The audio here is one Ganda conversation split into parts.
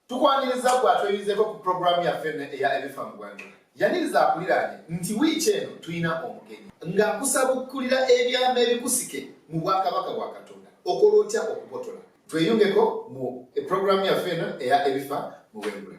Tukwaniriza gwe atweyizeko ku pulogulaamu yaffe eno eya ebifa mu gwanga. Yaniriza akuliraanye nti wiiki eno tulina omugenyi ng'akusabukkulira ebyama ebikusike mu bwakabaka bwa Katonda okola otya okubotola. Tweyungeko mu pulogulaamu yaffe eno eya ebifa mu bwengula.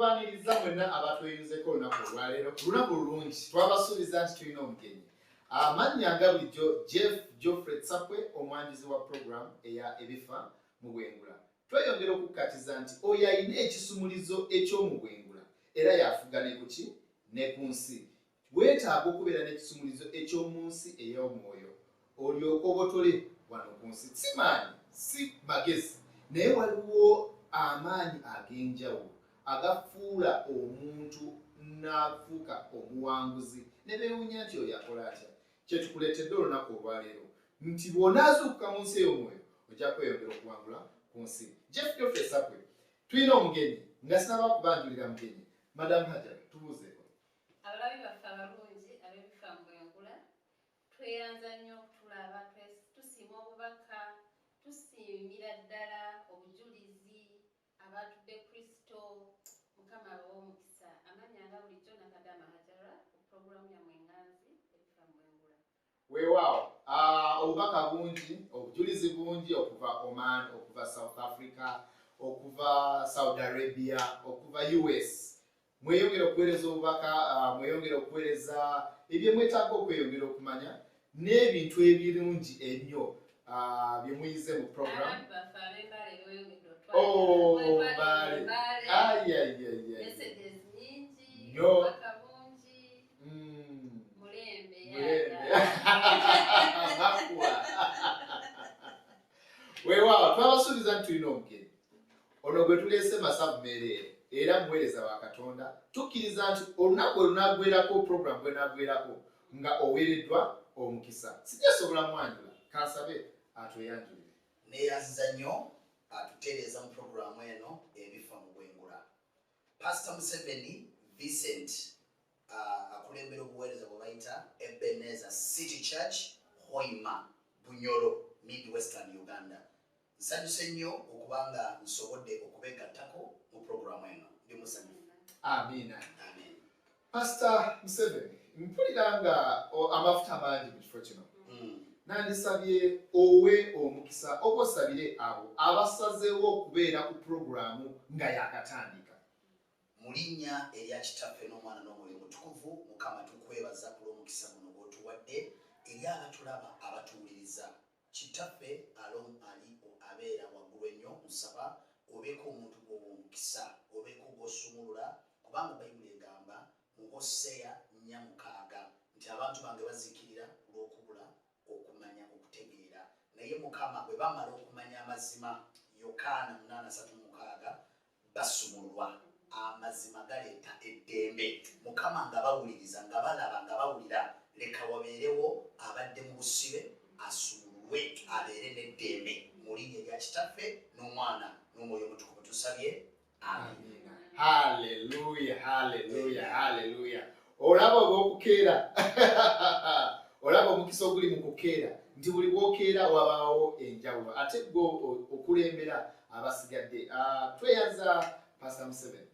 tubaniriza mwenna abatweyunzeko olunaku olwaleero ku lunaku lulungi twabasuubiza nti tulina omugenyi amannya nga bulijjo jeff geoffrey tsakwe omwanjuzi wa puroguramu eya ebifa mu bwengula tweyongera okukkatiza nti oyo alina ekisumulizo eky'omu bwengula era yafuga ne kuki ne ku nsi Weetaaga okubeera n'ekisumuluzo eky'omu nsi ey'omwoyo olyoke obotole wano ku nsi. Si maanyi, si magezi, naye waliwo amaanyi ag'enjawulo agafuula omuntu n'afuuka omuwanguzi ne beewunya nti oyo akola atya. Kye tukuleetedde olunaku olwaleero nti bw'onaazuukuka mu nsi ey'omwoyo ojja kweyongera okuwangula ku nsi. Jeff Geoffrey Sakwe, tulina omugenyi nga sinaba kubanjulira mugenyi, Madamu Hajar, tubuuzeeko. Abalabi baffe abalungi ab'ebifa mu bwengula, tweyanza nnyo okutulaba. Tusiima obubaka, tusiimira ddala obujulizi abaatudde Kristo. Mukama abawe omukisa. Amannya nga bulijjo, Nakadama Hajarah ku pulogulaamu yammwe enganzi, Ebifa mu Bwengula. weewaawo ah, obubaka bungi obujulizi bungi okuva oman okuva south africa okuva saudi arabia okuva us mweyongere okuweereza obubaka ah, mweyongere okuweereza ebyemwetaaga okweyongera okumanya n'ebintu ebirungi ennyo ah, byemuyize mu program oh, nyo weewaawo twabasuubiza nti tulina omugenyi ono gwe tuleese masabu meereere era muweereza wa katonda tukkiriza nti olunaku olunagwerako puroguramu bwenagwerako nga oweereddwa omukisa sijasobola mwanjula kansabe atweyanjulire neyaziza nnyo atutereeza mu puroguramu eno ebifa mu bwengula Pastor Museveni Vincent uh, akulembera obuweereza bwe bayita Ebenezer City Church Hoima Bunyoro mid Western Uganda. Nsanyuse nnyo okuba nga nsobodde okubeegattako mu programu eno. Ndi musanyufu. Amiina. Amiina. Pastor Museveni mpulira nga amafuta mangi mu kifo kino hmm. nandisabye owe omukisa oba osabire abo abasazeewo okubeera ku pulogulaamu nga yakatandika mu linnya erya kitaffe n'omwana n'omwoyo mutukuvu mukama tukwebaza kulw'omukisa guno gwotuwadde eri abatulaba abatuwuliriza Kitaffe along Ali o abeera wagulu ennyo nsaba obeeko omuntu gwowa omukisa obeeko gwosumulula kubanga baibuli egamba mu Hosea nnya mukaaga nti abantu bange bazikirira kulwokubula okumanya okutegeera naye mukama bwebamala okumanya amazima Yokaana munaana satu mukaaga basumululwa. Amazima galeeta eddembe. Mukama nga bawuliriza, nga balaba, nga bawulira. Leka wabeerewo abadde mu busibe asumululwe abeere n'eddembe. Mu Linnya erya Kitaffe, n'Omwana, n'Omwoyo Omutukuvu tusabye. Amiina. Hallelujah, hallelujah, hallelujah. olaba olwokukeera olaba omukisa oguli mu kukeera nti buli bwokeera wabaawo enjawulo ate gwe okulembera abasigadde ah, tweyanza pasta museven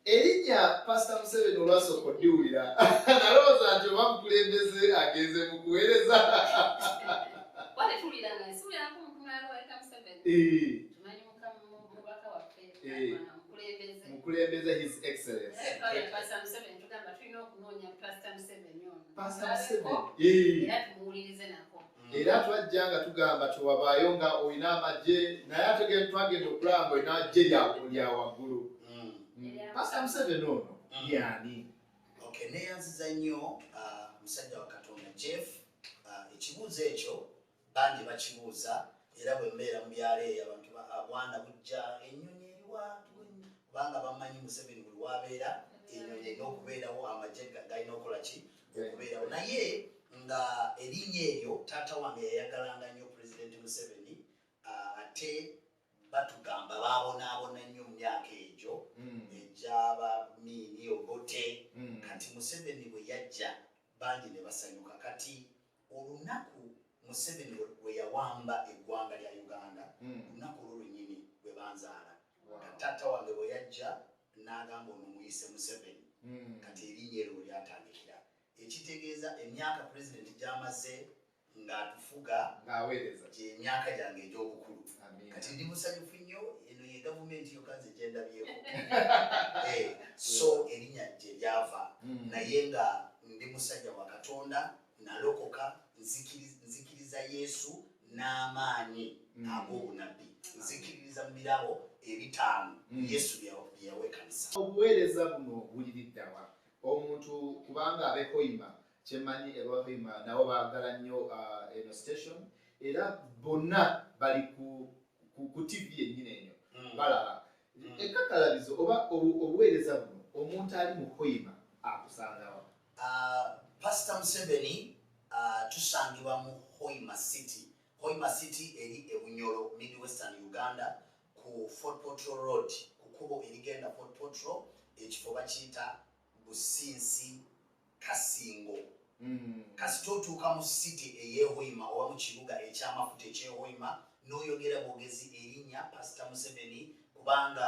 erinnya pasta museven olwasooka oddiwulira nalowooza nti oba mukulembeze agenze mu kuweereza Eh, mukulembeze his excellence eh. era twajja nga tugamba tewabaayo nga olina amagye naye ategere twagenda okulaba nga olina amagye lya waggulu hmm. hmm. pasita museveni ono hmm. yani neyanziza nnyo ah, musajja wa katonda jeff ah, ekibuuzo ekyo Bangi bakibuuza era bwe mbeera mu byalo eyo abantu bwana bujja ennyonyi eriwa kubanga bamanyi Museveni buli wabeera ennyonyi erina okubeerawo amagye galina okukola ki okubeerawo naye nga erinnya eryo taata wange yayagalanga nnyo pulezidenti Museveni ate batugamba babonaabona nnyo mu myaka egyo hmm. egyaba miini obote hmm. kati Museveni bwe yajja bangi ne basanyuka kati Olunaku Museveni weyawamba eggwanga lya Uganda, hmm. lunaku olwo lwenyini lwebanzaala. Kati taata wange bweyajja n'agamba ono muyise Museveni, hmm. kati erinnya eryo lyatandikira, ekitegeeza emyaka pulezidenti gyamaze ng'atufuga ng'aweereza gy'emyaka gyange egy'obukulu. Kati ndi musanyufu nnyo, eno ye gavumenti yokka nze gye ndabyeko. Eh, so erinnya gye lyava hmm. naye nga ndi musajja wa katonda nalokoka nzikiriza yesu n'amaanyi mm. ag'obunabbi nzikiririza mu birabo ebitaano mm. yesu byeyawa ekanisa obuweereza buno buliriddawa omuntu kubanga abehoima kyemanyi ebahoima nabo baagala nnyo uh, eno station era bonna bali ku ku tv yennyini enyo hmm. balaba hmm. ekakalabizo oba obuweereza buno omuntu ali mu hoima akusangawa ah, pasita museveni ah, tusangibwa mu hoima city hoima city eri ebunyolo mid western uganda ku fort potro road ku kubo erigenda fort potro ekifo bakiyita businsi kasingo mm. kasita otuuka mu city eyehoima oba mu kibuga ekyamafuta ekyehoima noyogera bwogezi erinya pasita museveni kubanga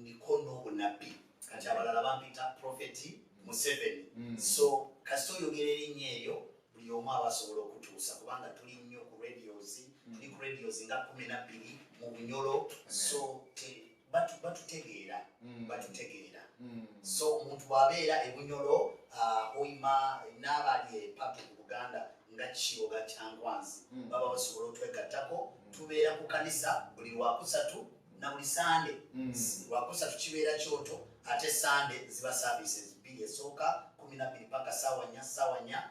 ndiko n'obunabbi kati abalala bampita profeti museveni mm. so kasita oyogera erinya eryo buli omu aba asobola okutuusa kubanga tuli nnyo ku radios mm. tuli ku radios nga kumi nabbiri mu bunyolo so batutegeera mm. batutegeera mm. so omuntu bwabeera ebunyolo uh, oyima naabali epapi ku buganda nga kiboga kyankwanzi mm. baba basobola otwegattako tubeera ku kanisa buli lwakusatu na buli sande lwakusatu kibeera kyoto ate sande ziba services bbiri esooka kumi nabiri paka sawanya sawanya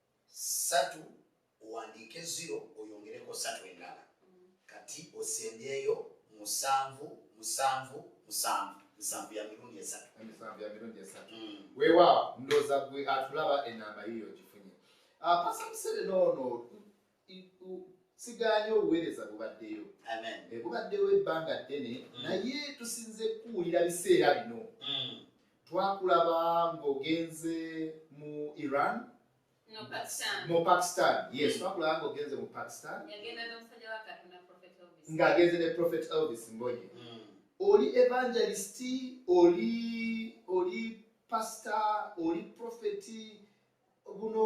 satu owandiike ziro oyongereko satu endala kati osembyeyo musanvu musanvu musanvu nsanvu ya mirundi esatu emisanvu ya mirundi esatu mm. wewa ndoza gwe atulaba enamba yiyo ogifunye ah, pasa musere noono sigaanye obuweereza bubaddeyo eh, bubaddewo ebbanga ddene mm. naye tusinze kuwulira biseera bino mm. twakulaba ng'ogenze mu iran mu pakistan yes mm. twakulaba ng'ogenze mu pakistan ng'agenze ne prophet elvis mbonye oli evangelisti oli oli pasita oli profeti guno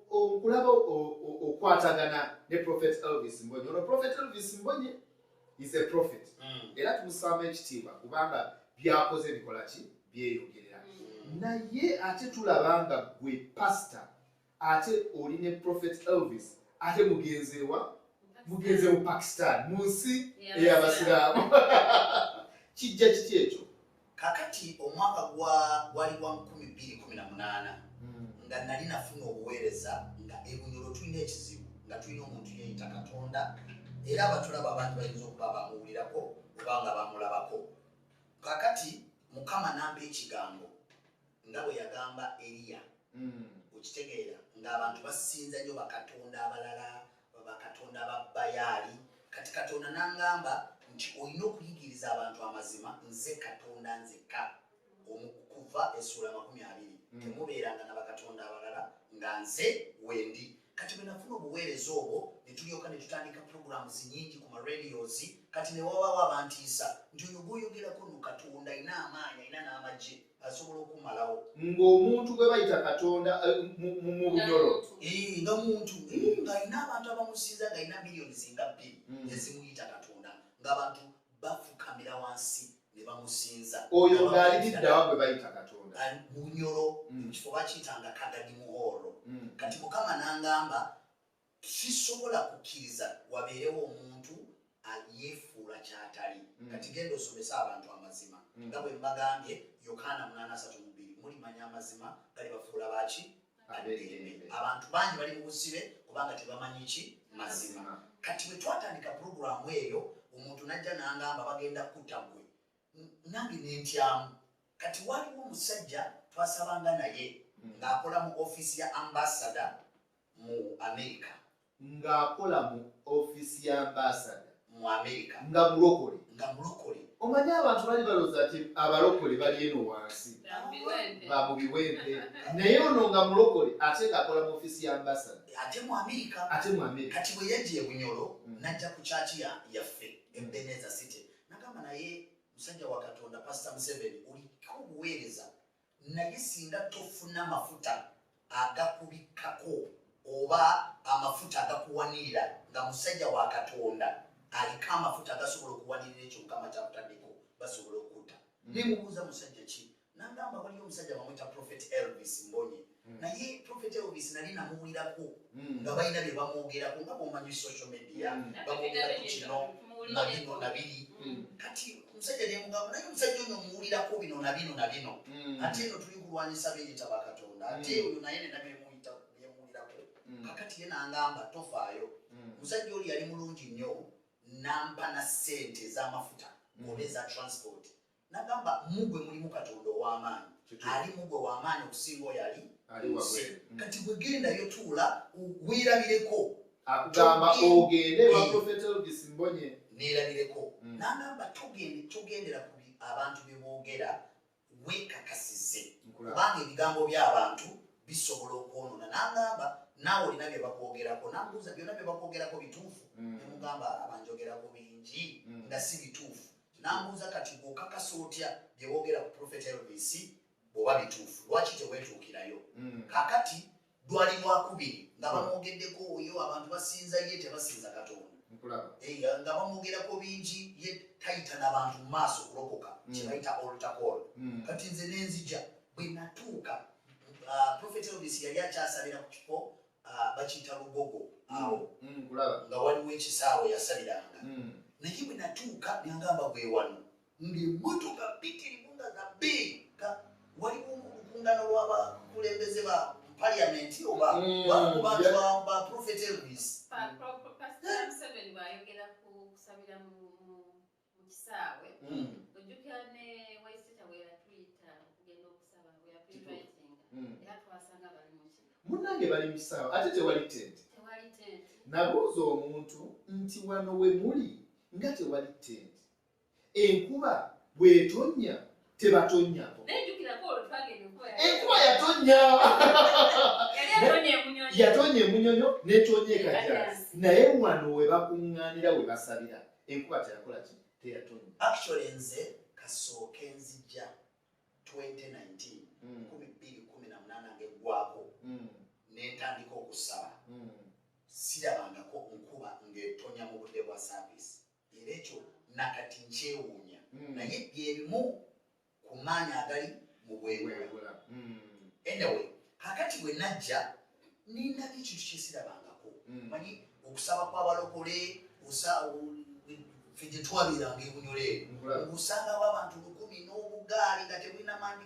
okulaba okukwatagana ne prophet elvis mbonye ono prophet elvis mbonye is a prophet mm. era tumusaamu ekitiibwa kubanga byakoze bikola ki byeyogerera mm. naye ate tulaba nga gwe pastor ate oli ne prophet elvis ate mugenzeewa mugenze mu pakistan mu nsi eyabasiraamu kijja kiki ekyo kakati omwaka gwali gwa 218 hmm. nga nali nafuna obuweereza nga ebunyolo tulina ekizibu nga tulina omuntu yeyita katonda era abatulaba abantu bayinza okuba bamuwulirako obanga bamulabako kakati mukama namba ekigambo nga bwe yagamba Eriya. Okitegeera? Nga abantu basinza nnyo bakatonda abalala, bakatonda ba Bayaali. Kati Katonda n'angamba nti olina okuyigiriza abantu amazima, nze Katonda nzekka. Okuva essuula amakumi abiri. Mm. Temubeeranga na bakatonda abalala nga nze wendi. Kati bwe nafuna obuweereza obwo, ne tulyoka ne tutandika pulogulaamu zinyingi ku maradiozi, kati ne wawaawo abantiisa nti oyo gw'oyogerako no Katonda alina amaanyi, alina n'amagye. asobola okumalawo ng'omuntu gwe bayita katonda eh, mu bunyolo nga muntu ng'alina abantu abamusinza ng'alina miliyoni zinga bbiri hmm. ezimuyita katonda ng'abantu bafukamira wansi ne bamusinza oyo ng'alididdawa gwe bayita katonda bunyolo hmm. mu kifo bakiyitanga kagadi muhoolo hmm. kati mukama n'angamba Sisobola kukkiriza wabeerewo omuntu a, yeefuula ky'atali. Kati genda osomese abantu amazima. Nga bwe mbagambye, Yokaana munaana asatu mu bbiri, Mulimanya amazima, galibafuula ba ki? Ab'eddembe. Abantu bangi bali mu busibe kubanga tebamanyi ki? Mazima. Kati bwe twatandika pulogulaamu eyo, omuntu n'ajja n'angamba, Bagenda kukutta ggwe. N, nange ne ntyamu. Kati waaliwo omusajja twasabanga naye, nga akola mu ofiisi ya Ambassador, mu Amerika. Ng'akola mu ofiisi ya ambaasada. Mu Amerika. Nga mulokole. Nga mulokole. Omanyi abantu bali balooza nti abalokole bali eno wansi. Ba mu biwempe. Naye ono nga mulokole ate ng'akola mu ofiisi ya ambaasada. Ate mu Amerika. Ate mu Amerika. Kati bwe yajja e Bunyoro mm. n'ajja ku kyaki yaffe e Beneza City. Nagamba naye musajja wa Katonda Pasita Museveni oliko obuweereza. Naye singa tofuna mafuta agakubikkako oba amafuta agakuwanirira nga musajja wa Katonda aliko amafuta agasobola okuwanirira ekyo Mukama kyakutaddeko basobola okutta. Nemubuuza musajja ki nangamba waliyo omusajja bamwita Prophet Elvis Mbonye Mm. naye prophet elvis nali namuwulirako mm. nga balina bye bamwogerako nga bomanyi social media mm. bamwogerako kino nabino nabiri kati omusajja nemugamba naye omusajja ono omuwulirako bino nabino nabino ate eno tuli kulwanyisa beyita bakatonda ate oyo naye nena byemuwulirako kakati ye nangamba tofaayo omusajja oli yali mulungi nnyo nampa na sente ezamafuta oba eza transport Nagamba mugwe mulimu Katonda ow'amaanyi, ali mugwe w'amaanyi okusinga oyo ali munsi. Mm. Kati gwe gendayo, tuula weerabireko. Akugamba ogende wa Prophet Elvis Mbonye. Neerabireko. Mm. Nagamba togende togendera ku abantu bye boogera, weekakasize kubanga ebigambo by'abantu bisobola okwonoona. Nagamba naawe olina bye bakwogerako. Nambuuza byonna bye bakwogerako bituufu? Mm. Nemugamba abanjogerako bingi nga si bituufu. Nambuuza kati okakasa otya byebogera ku Prophet Elvis bwoba bituufu lwaki tewetuukirayo? Hmm. Kakati lwali lwakubiri nga hmm. bamwogeddeko oyo abantu basinza ye tebasinza Katonda eh, nga bamwogerako bingi ye tayita nabantu mu maaso kulokoka hmm. kyebayita olutakoolo kati nze nenzija bwe natuuka uh, Prophet Elvis yali akyasabira ku kifo ah, bakiyita lugogo mm. awo mm, nga waliwo ekisaawe yasaliranga mm. naye bwe natuuka nengamba bwewano ngaemmotoka bitirimu nga za big nga waliwo olukungano lwabakulembeze ba paliamenti oba baprofet elvis mu kisaawe mm. ojjukira ne waisita weyatuyita okugenda okusaba weyatuyinvitinga mm. era twasanga bali muki munange bali mu kisaawe ate tewali tente tewali tente nabuuza omuntu nti wano we muli nga tewali tente enkuba bwetonya tebatonnya enkuba yatonnya yatonnya emunyonyo netonya ekajaasi naye wano we bakuŋŋaanira we basabira enkuba teyakola ki teyatonnya actually nze kasooke nzija 2019 hmm. kumi bbiri kumi na munaana ngegwako hmm. nentandika okusaba hmm. sirabangako nkuba ngetonya mu budde bwa saavisi Era ekyo nakati nkyewuunya, mm. naye byebimu ku maanyi agali mu bwengula. Mm. Anyway, kakati bwe najja nindabye ekintu kyesirabangako mm. manyi okusaba kwabalokole ffe gyetwabeeranga ebunyole eno osangawo abantu lukumi n'obugaali nga tebulina maanyi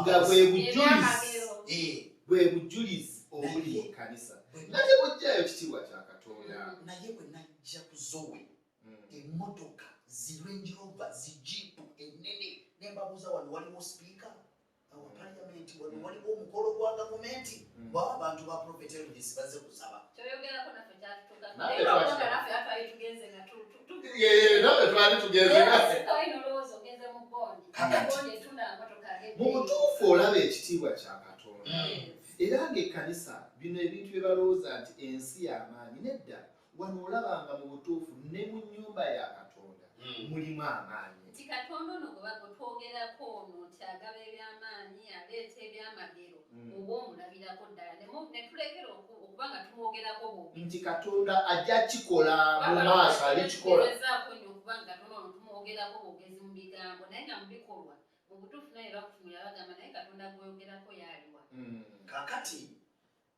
nga bwe bujulizi eh. bwe bujulizi obuli mu kkanisa nate bwojjayo kitiibwa kya katonda mm, naye bwe najja ku zowe mm. emmotoka zirenjirova zijiipu ennene nembabuuza wano waliwo sipiika awa mm. paliamenti wano waliwo omukolo gwa gavumenti ba abantu ba profetelvis baze kusaba kyoyogerako nafe kyatutuka naye bakoga nafe atwali tugenze nga tutu mu butuufu olaba ekitiibwa kya katonda mm. era ng'ekkanisa bino ebintu bye balowooza nti ensi y'amaanyi nedda wano olaba nga mu butuufu ne mu nnyumba ya katonda mm. mulimu amaanyi nti katonda ono gwe bagotwogerako ono nti agaba ebyamaanyi aleeta ebyamagero mm. oba omulabirako ddala netulekera okuba nga tumwogerako bubi nti katonda ajja kikola mu maaso alikikolaezaako nyo okuba nga katonda ono tumwogerako bwogezi mu bigambo naye nga mu bikolwa mu butuufu naye bakutunula bagamba naye katonda gweyogerako yaliwa mm. kakati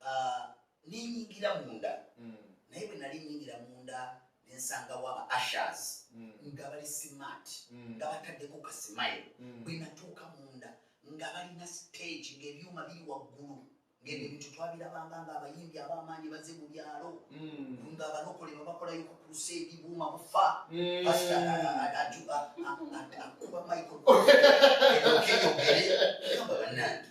ah, nenyingira munda mm. naye bwe nali nyingira munda nensangawo aba ashers mm. nga bali smart mm. nga bataddeko kasimayo bwe natuuka munda nga balina stage ngaebyuma biri waggulu ngeno ebintu twabirabanga nga abayimbi abamaanyi baze mu byalo nga abalokole babakolayo ku kusa ebibuuma bufa akuba michael okeyogere amba banange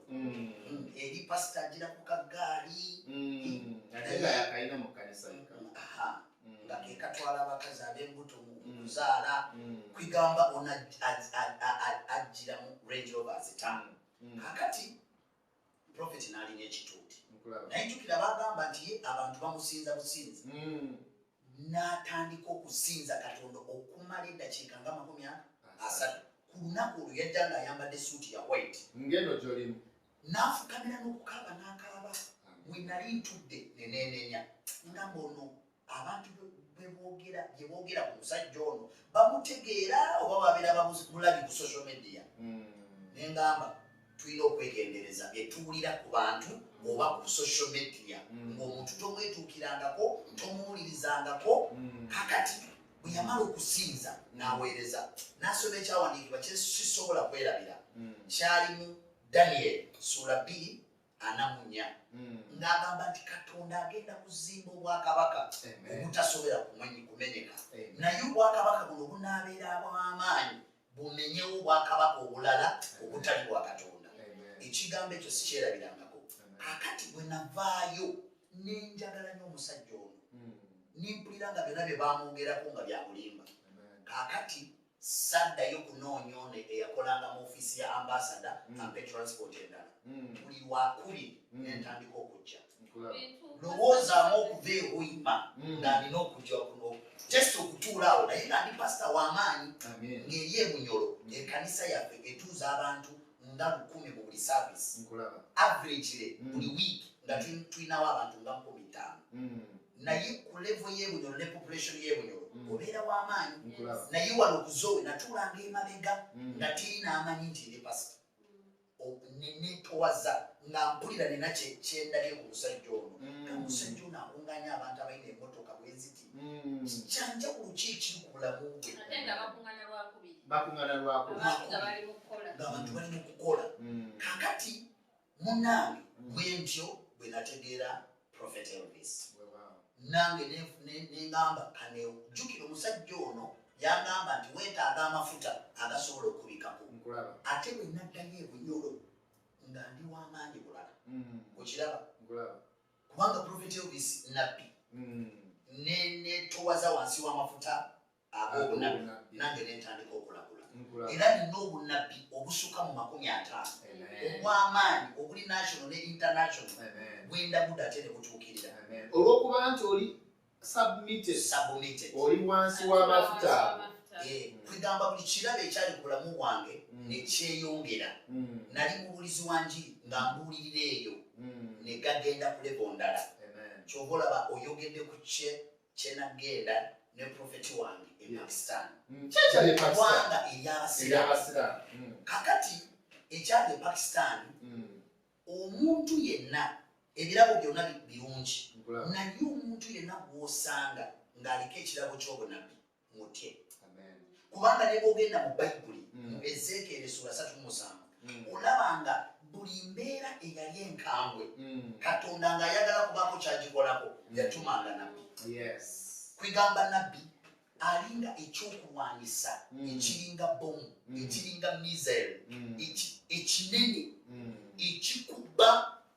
eri pasita agira ku kagaali nga kekatwala abakazi abembuto mukuzaala kwigamba ona ajjira mu range rover zitaano kakati profeti naalina ekituuti naye jukira bagamba nti ye abantu bamusinza businzi n'atandika okusinza katonda okumala eddakiika nga makumi asatu ku lunaku olwo yajja nga ayambadde suuti ya white ngendo gyolimu n'afukamira n'okukaaba n'akaaba we nali ntudde neneenenya nga mbono abantu bebogera byebogera ku musajja ono bamutegeera oba babeera bamulabi ku social media hmm. nengamba tulina okwegendereza byetuwulira ku bantu oba ku social media mm. ngaomuntu tomwetuukirangako tomuwulirizangako mm. kakati bwe yamala okusinza n'aweereza n'asoma ekyawandiikibwa kyesisobola kwerabira mm. kyalimu daniel suula bbiri anamunya ng'agamba nti katonda agenda kuzimba obwakabaka obutasobera kumenyeka naye obwakabaka buno bunaabeera bw'amaanyi bumenyewo obwakabaka obulala obutali bwa katonda ekigambo ekyo sikyerabirangako akati bwe navaayo nenjagala nyo omusajja ono hmm. nempulira nga byona bye bamwogerako nga byakulimba kakati saddayo kunoonya ono eyakolanga mu ofiisi ya ambasada hmm. ampe transport endala hmm. buli lwakuli nentandika okujja lowoozaamu okuva ehoima mm. nga nina okujja kuno just okutuula awo naye nga ndi pasita w'amaanyi ng'eri emunyolo ekanisa yaffe etuuza abantu nga lukumi mu buli saavisi averagile mm. buli wiiki nga tulinawo abantu nga nkumi ttaano mm. naye ku levo y'ebunyolo ne population y'ebunyolo obeera w'amaanyi naye wano okuzoowe natuulanga emabega nga tirina amanyi nti ndi pasita nenetowaza nga mpulira nina kyendabye ku musajja ono mm. omusajja ono akunganya abantu abalina emotoka bweziti mm. kyanjawulo kyekiri ku bulamu bwe ngaabantu bali mukukola mm. kakati munange bwentyo bwenategeera prophet elvis nange nengamba kaneo jukira omusajja ono yagamba nti wetaaga amafuta agasobola okubikako ate bwenaddayo ebunyolo nga ndi wamaanyi bulala mm. okiraba kubanga profeti obisi nabbi mm. netowaza wansi wamafuta ab'obunabbi nange nentandika okulagula era nina obunabbi obusuka mu makumi ataano obw'amaanyi obuli national ne international bwendagude ate ne butuukirira olw'okuba nti oli oli wansi w'amafuta kwegamba buli kirabo ekyali ku bulamu bwange mm. nekyeyongera mm. nali mubulizi wa njiri nga mbuulirira eyo mm. negagenda kulebo ndala kyova olaba oyogedde ku kye kyenagenda ne profeti wange e pakistan mm. kyekyaliwanga eryabasiraamu mm. kakati ekyali e pakistan mm. omuntu yenna ebirabo byonna birungi naye omuntu yenna gwosanga ng'aliko ekirabo ky'obunabbi mutye kubanga ne bwogenda mu bayibuli mm. mu ezeekeera essuula satu musanvu mm. olaba nga buli mbeera eyali enkambwe mm. katonda ng'ayagala kubaako kyagikolako yatumanga nabbi kwegamba nabbi alinga ekyokulwanyisa ekiringa bomu ekiringa misel ekinene ekikuba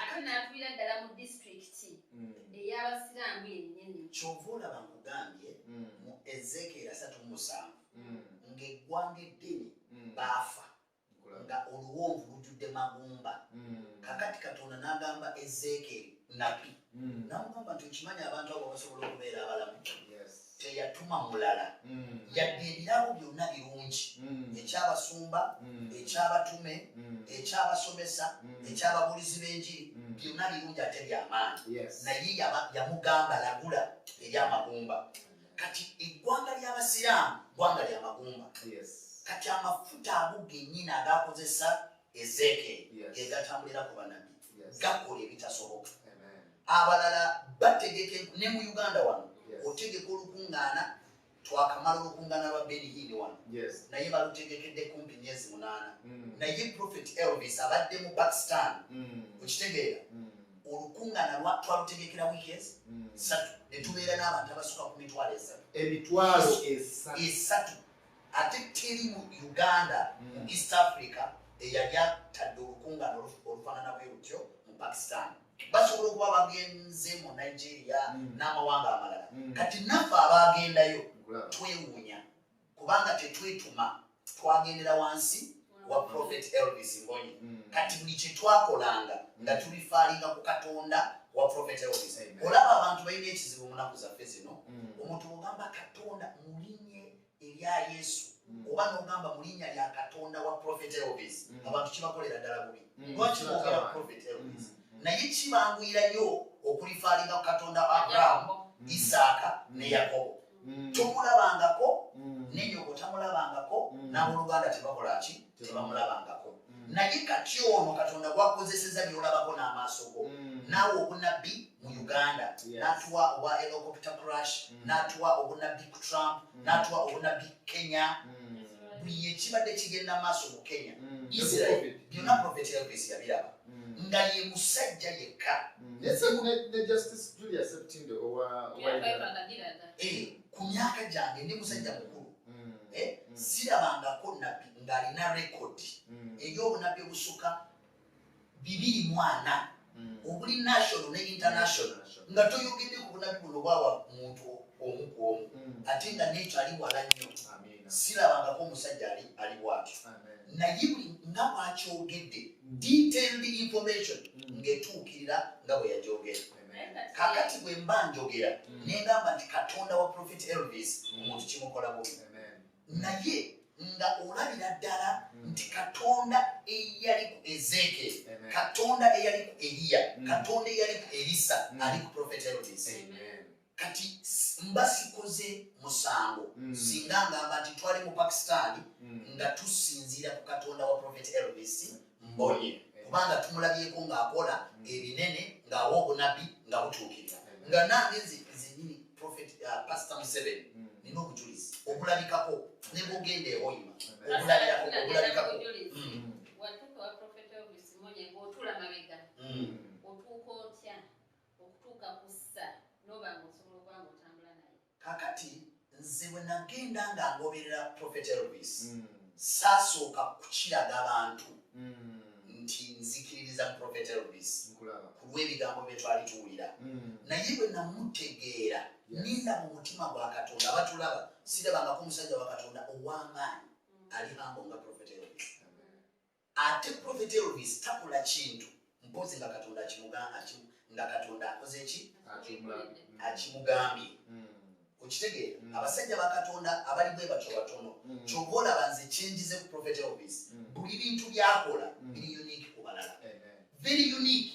ate n'afiira ddala mu disitulikiti hmm. ey'abasiraamu yennyini kyova olaba nkugambye hmm. mu ezekeera satu musanvu hmm. ng'eggwanga eddini baafa nga oluwonvu lujjudde magumba kakati katonda n'agamba ezekeeri nabi namugamba nti okimanyi abantu abo basobola okubeera abalamu teyatuma mulala mm. yadde ebirabo byonna birungi mm. ekyabasumba mm. ekyabatume ekyabasomesa ekyababulizi b'enjiri byonna birungi ate byamaanyi naye yamugamba lagula eryamagumba kati eggwanga ly'abasiraamu ggwanga lyamagumba kati amafuta ago genyini agakozesa ezeke egatambulira ku banabbi gakola ebitasoboka abalala bategeke ne mu uganda wano otegeka olukungaana twakamala olukungaana lwa benihini wano naye balutegekedde kumpi myezi munaana mm. naye prophet elvis abadde mu pakistan mm. okitegeera mm. olukungaana twalutegekera wiiki ezi satu netubeera n'abantu abasuka ku mitwalo esatu emitwalo esatu ate teri mu uganda mm. mu east africa eyali atadde olukungana olufanana bwe lutyo mu pakistan basobola okuba bagenze mu nigeria mm. n'amawanga amalala mm. kati naffe abaagendayo twewuunya kubanga tetwetuma twagendera wansi wa prophet elvis mbonyi mm. kati buli kyetwakolanga nga tulifaalinga ku katonda wa prophet elvis olaba abantu balina ekizibu munaku zaffe zino mm. omuntu ogamba katonda mulinye erya yesu mm. oba nogamba mulinya lya katonda wa prophet elvis abantu kibakolera ddala bubi lwaki bogera prophet elvis naye kibanguyirayo okulifaalinga ku katonda wa abrahamu isaaka ne yakobo mm. tomulabangako mm. nenyoko tamulabangako mm. naboluganda tebakolaki tebamulabangako naye kati ono katonda gwakozeseza byolabako n'amaaso go naawe obunabbi mu uganda natuwa obwa elocopta crash natuwa obunabbi ku trump natuwa obunabbi kenya buli ekibadde kigenda maaso mu kenya israel byonna profeti elvis yabiraba nga ye musajja yekka ku myaka gyange ndi musajja mukulu eh, sirabangako nabbi ng'alina rekodi eri obunabbi obusuka bibiri mwana obuli national ne international nga toyogedde ku bunabbi buno bwawa muntu omu ku omu ate nga nekyo ali wala nnyo sirabangako omusajja ali bwatyo naye buli nga bwakyogedde detailed information mm. ngetuukirira nga bwe yagyogera kakati bwe mba njogera mm. nengamba nti katonda wa profit elvis mm. omuntu kimukola bubi naye nga olabira ddala nti katonda eyali ku ezeke katonda eyali ku eriya katonda eyali ku erisa ali ku profit elvis kati mba sikoze musango mm. singa ngamba nti twali mu pakistan mm. nga tusinziira ku katonda wa profet elvis mbonye mm. kubanga tumulabyeko ng'akola mm. ebinene ng'awa obunabbi nga butuukirira mm. nga nange zenyini profet uh, pastor museveni mm. nina obujulizi obulabikako ne bugenda ewoima obulabirako obulabikako mm. watuka wa profet elvis mbonye ng'otula mabega mm. otuuka otya okutuuka ku ssa n'oba nga osobola okuba nga otambula naye kakati nze bwe nagenda nga ngoberera prophet elvis mm. saasooka kukiraga bantu mm. nti nzikiririza mu prophet elvis ku lw'ebigambo bye twali tuwulira mm. naye bwe namutegeera ninda mu mutima gwa katonda batulaba sirabangako omusajja wa katonda ow'amaanyi ali hambo nga prophet elvis Ate prophet Elvis takola kintu mpozi nga katonda akimugamba nga katonda akoze ki akimugambye hmm. okitegeera hmm. abasajja ba katonda abali bwe batyo batono hmm. kyova olaba nze kyenjize ku prophet Elvis buli bintu byakola biri unique ku balala very unique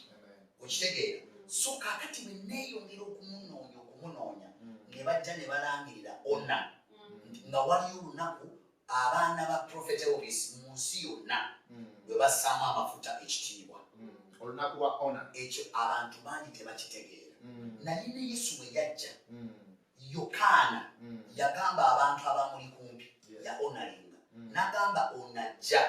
okitegeera so kakati bwe neeyongera okumunoonya okumunoonya ne bajja ne balangirira ona nga waliyo olunaku abaana ba prophet elvis mu nsi yonna hmm. bwe bassaamu amafuta ekitiibwa hmm. olunaku lwa ona ekyo abantu bangi tebakitegeera hmm. naye ne yesu bwe yajja yokaana yagamba abantu abamuli kumpi ya onalinga nagamba onajja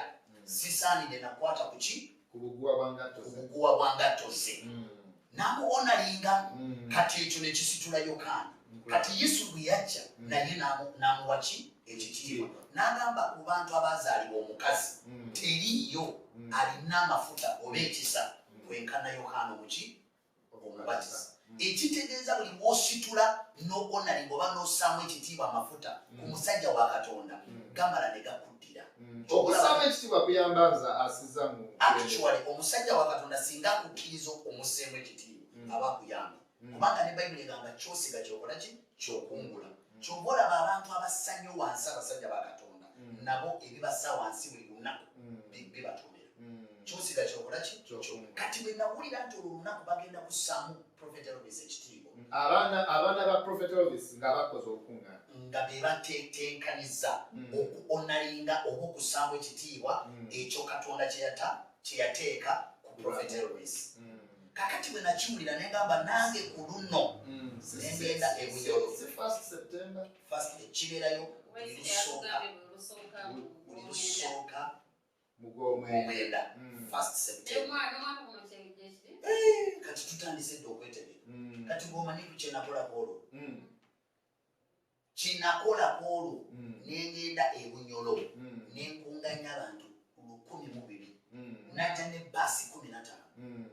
sisaanide nakwata kuki ku buguwa bwa ngatto ku buguwa bwa ngatto ze mm. n'amuwonalinga mm. kati ekyo ne kisitula yokaana kati yesu bwe yajja mm. naye n'amuwa ki ekyo kitiibwa n'agamba ku bantu abaazaalibwa omukazi teriiyo alina amafuta oba ekisa kwenkana yokaana omuki omubatiza hmm. ekitegeeza buli wositula nokonalinga oba nosaamu ekitiibwa amafuta ku hmm. musajja wa katonda hmm. gamala ne gakuddira okusaamu ekitiibwa kuyamba nza asiza mu actually omusajja wa katonda singa akukkiriza omuseemu ekitiibwa aba akuyamba kubanga ne bayibuli egamba kyosiga kyokola ki kyokungula kyova olaba abantu abasanyo wansi abasajja ba katonda mm. nabo ebibasa wansi buli lunaku mm. bibatomera mm. kyosiga kyokolaki kati bwenawulira nti olwo lunaku bagenda kusamu profet elvis ekitiibwa abaana ba profet elvis nga bakoze okunga nga bebatetenkaniza okuonalinga oba okusamu ekitiibwa ekyo katonda kyeyateeka ku profet elvis mm. kakati bwe nakiwulira ne ngamba nange ku luno mm. ne ngenda e bunyoro fast ekibeerayo buli lusooka buli lusooka mugomwenda mm. fast september eh, kati tutandise dde okwetebera mm. kati bwomanyi kukyenakolako olwo kyenakola kwolwo mm. nengenda ebunyolo mm. nenkunganya abantu lukumi mubiri mm. naja ne basi kumi natano mm.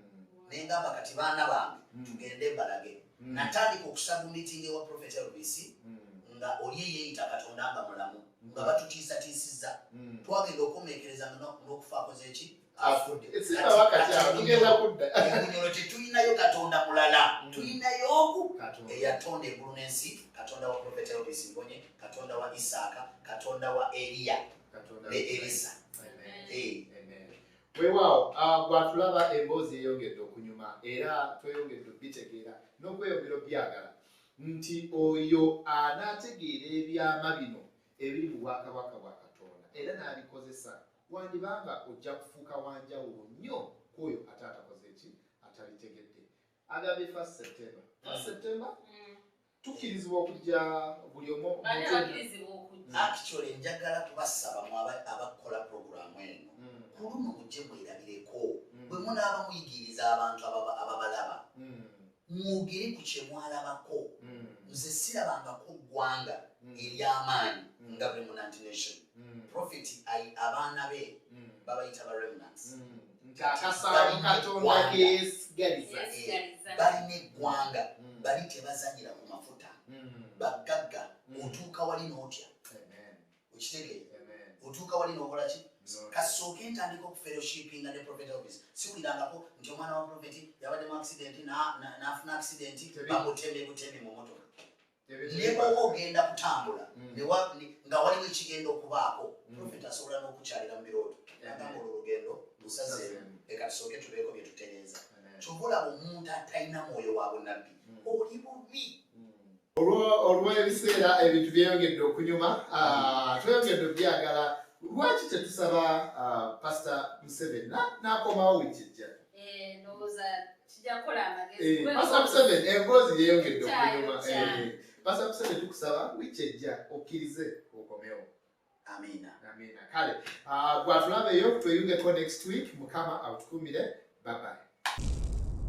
nengamba kati baana bange mm. tugende mbalage mm. natandika okusaba mitingi ewa prophet lbc mm. nga oli eyeyita katonda nga mulamu mm. nga batutiisatiisiza mm. twagenda okomekereza nokufa akoze ki afuddebunyono tetulinayo katonda mulala mm. tulinayo oku eyatonda eggulu n'ensi katonda wa profeta elvis mbonye katonda wa isaaka katonda wa eliya ne elisa weewaawo ah, gwatulaba emboozi eyongedde okunyuma era tweyongedde okubitegeera n'okweyongera obyagala nti oyo anaategeera ebyama bino ebiri mu bwakabaka bwa katonda era n'abikozesa Wandiba nga ojja kufuuka wa njawulo nnyo ku oyo ate atakoze ki atalitegedde. Agambye first September. First mm. September? Mm. Tukkirizibwa okujja buli omu. Bani bakirizibwa okujja. Mm. Actually, njagala kubasaba mu abakola programu eno. Mm. Ku luno mujje mwerabireko. Mm. Bwe munaaba muyigiriza abantu ababalaba. Mm. mwogere ku kyemwalabako mm. nze sirabangako ggwanga mm. eryamaanyi mm. nga remnant nation profit abaana be babayita ba remnants balina eggwanga bali tebazanyira ku mafuta baggagga mutuuka wali n'otya okitegee otuuka wali nokola ki kasooka entandika okuferoshipinga ne profet elvis siwulirangako nti omwana wa profeti yabadde mu accidenti nafuna accidenti bamutembe butembe mu motoka nebwoba ogenda kutambula mm. nga waliwo ekigenda okubaako mm. profet asobola n'okukyalira mu birooto nagamba olwo olugendo lusaze leka tusooke tubeeko bye tutereeza kyova olaba omuntu atalina mwoyo wa bunabbi mm. oli bubi olw'ebiseera ebintu byeyongedde okunyuma ah, tweyongedde obyagala lwaki tetusaba ah, pasita museveni n'akomawo wiiki ejja eh, eh, pasita museveni emboozi eh, yeyongedde okunyuma pasita museveni tukusaba wiiki ejja okkirize okomewo amiina amiina kale ah, gwatulabeyo tweyungeko next week mukama atukumire babaye